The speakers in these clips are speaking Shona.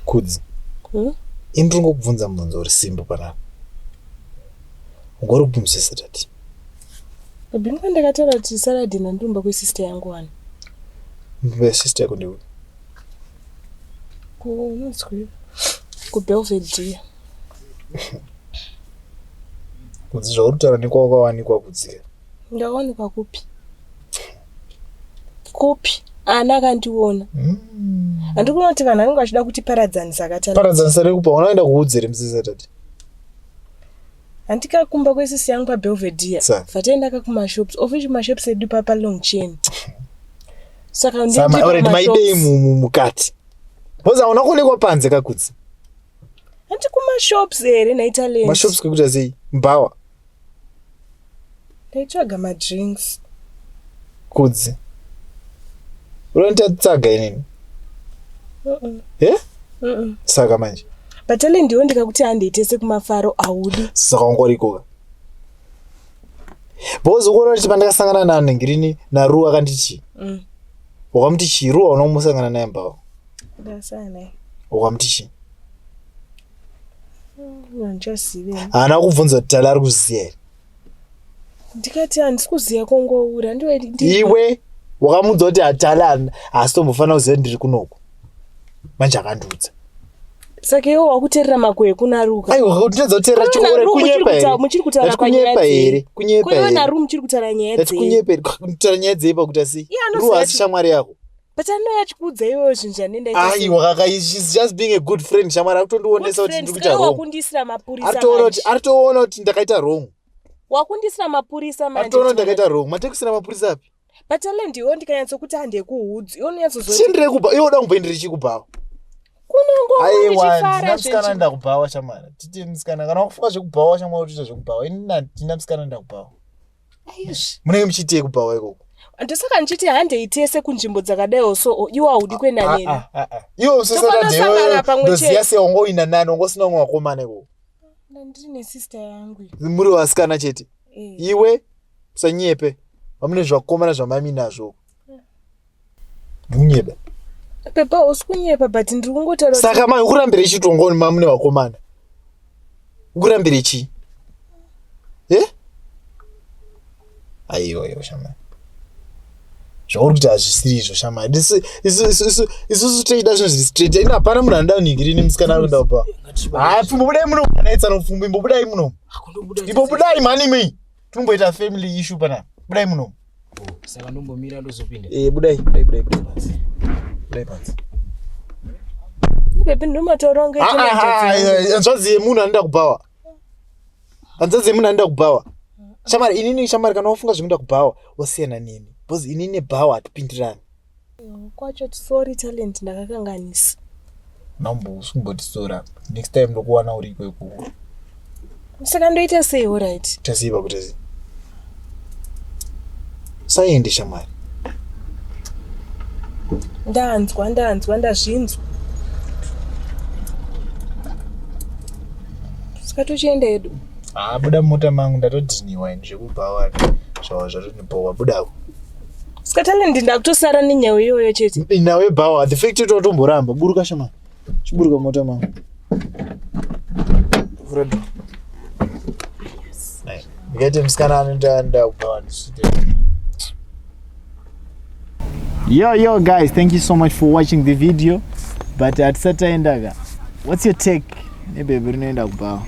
Kudzi. Hmm? Ini ndiri ngokubvunza mubvunzo uri simple panapa. Ungori kupi musi Saturday? Bimba ndakataura kuti Saturday ndandirumba kwesister yangu wani. Mumba yesister yako ndeupi? Kunonzwi kuBelford dear. Kudzi zvauri kutaura nekwawakawanikwa kudzika. Ndakawanikwa kupi? kupi ana akandiona handiri kuona kuti vanhu vanenge vachida kuti paradzanisa akati paradzanisa rekupa ona aenda kuudzere musi satade handikakumba kwesisi yangu pabelvedia vataenda ka kumashops of which mashops edu papa long chain saka maidei mukati bcause hauna kuonekwa panze kakudzi hanti kumashops here nhaitalenmashops kwekuita sei mbawa Ndaitsvaga madrinks. Kudzi. Unotatsaga inini. Mm. Eh? Mm. Saka manje. But ale ndiwo ndikakuti handiitese kumafaro audi. Saka ungorikoka. Bozo kuona kuti pandakasangana na Ngirini na Ru akanditi. Mm. Wakamuti chiruwa unomusangana naye mbao. Ndasana. Wakamuti chiruwa. haana kubvunza kuti tala ari kuziva here ndikati handisi kuziva kongoura iwe wakamuudza kuti hatala haasi tombofanira kuziva ndiri kunoku manje akandiudza saka iwe wakuterera mako ekunaruka ndinoedza kuterera chiore kunyepa here muchiri kutaura kunyepa here kunyepa here naru muchiri kutaura nyaya dzei kutaura nyaya dzei pakuti asi ruwa asi shamwari yako but anouya achikuudza iwewe zvinhu zvanenda just being a good friend shamwari akutondionesa kuti ndiri kuita wrongwakundiisira mapurisa ari toona kuti ndakaita wrong wakundiisira mapurisa manje toona ndakaita wrong matekusira mapurisa api but ale ndiwo ndikanyatsokuti handekuudzi iwo ndinyatsozochindirekuba iwo da kumboendere chikubhawa kunongoaiwandinamusikana ndakubhawa shamwari titi musikana kana wakufunga zvekubhawa shamwari utoita zvekubhawa ini ndina musikana ndakubhawa munenge muchiitei kubhawa ikoko ndosaka ndichiti handei tese kunzvimbo dzakadaiwo so oh, iwo haudi kuenda ah, ah, neni ah, iwe usisaadoziva se wangoina nani wangosina umwe wakomana ikoko ndiri nesister yangu muri vasikana chete eh. iwe usanyepe vamune zvakomana zvamaimi nazvo Munyeba. Pepa usi kunyepa but ndiri kungotaura. Saka mai ukurambira ichi tongoni mamu nevakomana. Ukurambira ichi. Eh? Aiwa iwa shamai. Zvauri kuti hazvisiri izvo shamai. Isu isu isu isu isu toida zvinhu zviri straight. Ina hapana munhu anoda unhingiri ini musikana anoda upa. Hayi pfumbo budai muno kana itsano pfumbo imbobudai muno. Imbobudai mhani mii. Tumboita family issue pana. Budai muno. Saka ndombomira ndozopinda. Eh, budai, budai, budai, budai panzi. Budai panzi. Baby ndomatoronga ichi. Ah, ah, ah eh, hanzvadzi yemunhu anoda kubhawa. Hanzvadzi yemunhu anoda kubhawa. Shamari, inini shamari kana wafunga zvekuda kubhawa, wasiyana neni. Because inini nebhawa hatipindirani. kwacho sorry talent ndakakanganisa mambo usumbotisora next time ndokuwana uri ikweku saka ndoita sei orit tasei pakutasi saende shamwari ndanzwa ndanzwa ndazvinzwa saka tochienda edu haa buda mumota mangu ndatodhiniwa ini zvekubhawa zvava zvatonipowa budako Ska talent ndakutosara nenyawo iyoyo chete. Nawe bawa the fact to tomboramba buruka shama. Chiburuka mota ma. Fredo. Ngati msikana anoita nda ubawa ndisite. Yo yo guys, thank you so much for watching the video. But at Sataendaga, what's your take? Nebhebhi rinoenda kubhawa.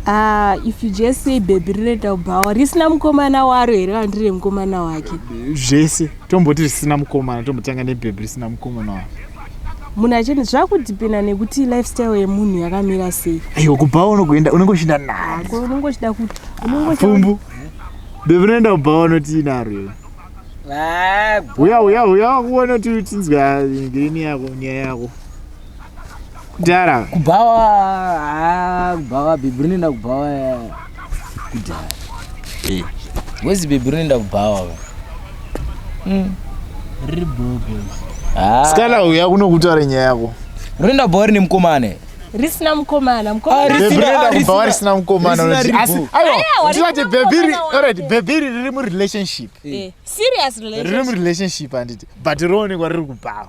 Ah, if you just say bhebhi rinoenda kubhawa risina mukomana waro here kana ndiri remukomana wake? Zvese. Tomboti risina mukomana tombotanga nebhebhi risina mukomana waro. Munhu achende zvakudhipenda nekuti lifestyle yemunhu yakamira sei. Aiwa kubhawa unogoenda unenge uchida nani? Ko unenge uchida kuti unenge uchida Pfumbu. Bhebhi rinoenda kubhawa unoti inaro iwe. Uya uya uya wakuona kuti tinzwa ngirini yako nyaya yako. kudhara kubhawa ah, kubhawa bhebhi rinoenda kubhawa eh, kudhara eh. wezi bhebhi rinoenda kubhawa hmm. riri bhobo ah. sikana uya kunokutaura nyaya yako rinoenda bhawa rine mukomane risina mukomana mukomanabhava ah, risina mukomanaaiwaati bhebhi riri murelationship riri murelationship handiti but roonekwa riri kubhawa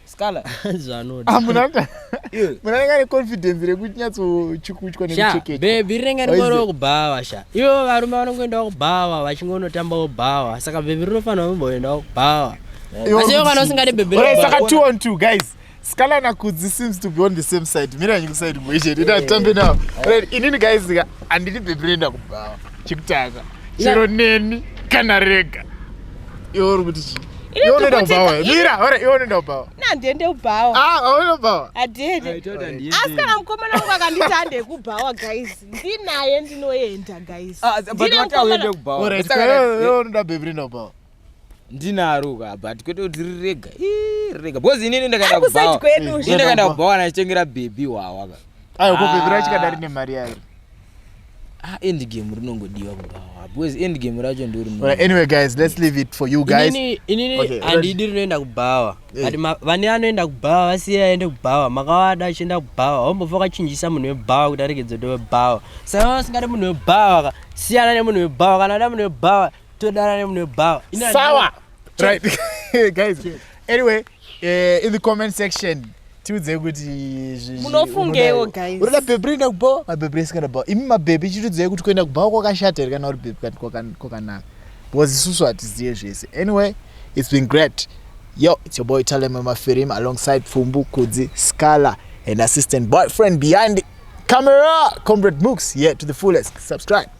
Scala. Zvanoda. Ah, muna muna renga ne confidence rekuti nyatso chikuchwa ne cheke. Baby renga ne moro kubhawa sha. Ivo varume vanongoenda kubhawa vachingonotamba kubhawa. Saka baby rinofanira kumboenda kubhawa. Asi ivo kana usingade baby. Ora saka 2 on 2 guys. Scala na Kudzi seems to be on the same side. Mira nyiku side mweje. Ndita tambe now. Inini guys andiri baby renda kubhawa. chekutanga chero neni kana rega iwe uri kuti chii iwe unoenda kubhawa mira ora iwe unoenda kubhawa nandiende kubhawa ah aunoenda kubhawa adiende asi kana mukomana wangu akanditi ande kubhawa guys ndinaye ndinoenda guys ah, ndine mukomana ora iwe unoda bhebhi rinoenda kubhawa ndinaro ka but kwete kuti rirega rirega because inini ndakaenda kubhawa ini ndakaenda kubhawa nachitengera bhebhi wawa ka ayo ko bhebhi racho kadari nemari yayo ah end game rinongodiwa kubhawa because end game racho ndori right, anyway guys let's leave it for you guys inini inini okay, andidi rinoenda kubhawa eh. ati vane anoenda kubhawa vasiya aende kubhawa makawada achienda kubhawa hombofa kachinjisa munhu webhawa kuti aregedze kuti webhawa saka vasingadi munhu webhawa ka siyana nemunhu webhawa kana ada munhu webhawa todanane mune bhawa sawa right guys anyway uh, in the comment section tiudze kuti munofungewo guys unoda bhebhi rinoenda kubhawa mabhebhi risikaenda kubhawa imi mabhebhi chitiudzei kuti kuenda kubhawa kwakashata here kana uri bhebhi kwakanaka because isusu hatizive zvese anyway it's been great yo it's your boy talem mafirim alongside pfumbu kudzi scala and assistant boyfriend behind camera comrade mooks yeah to the fullest subscribe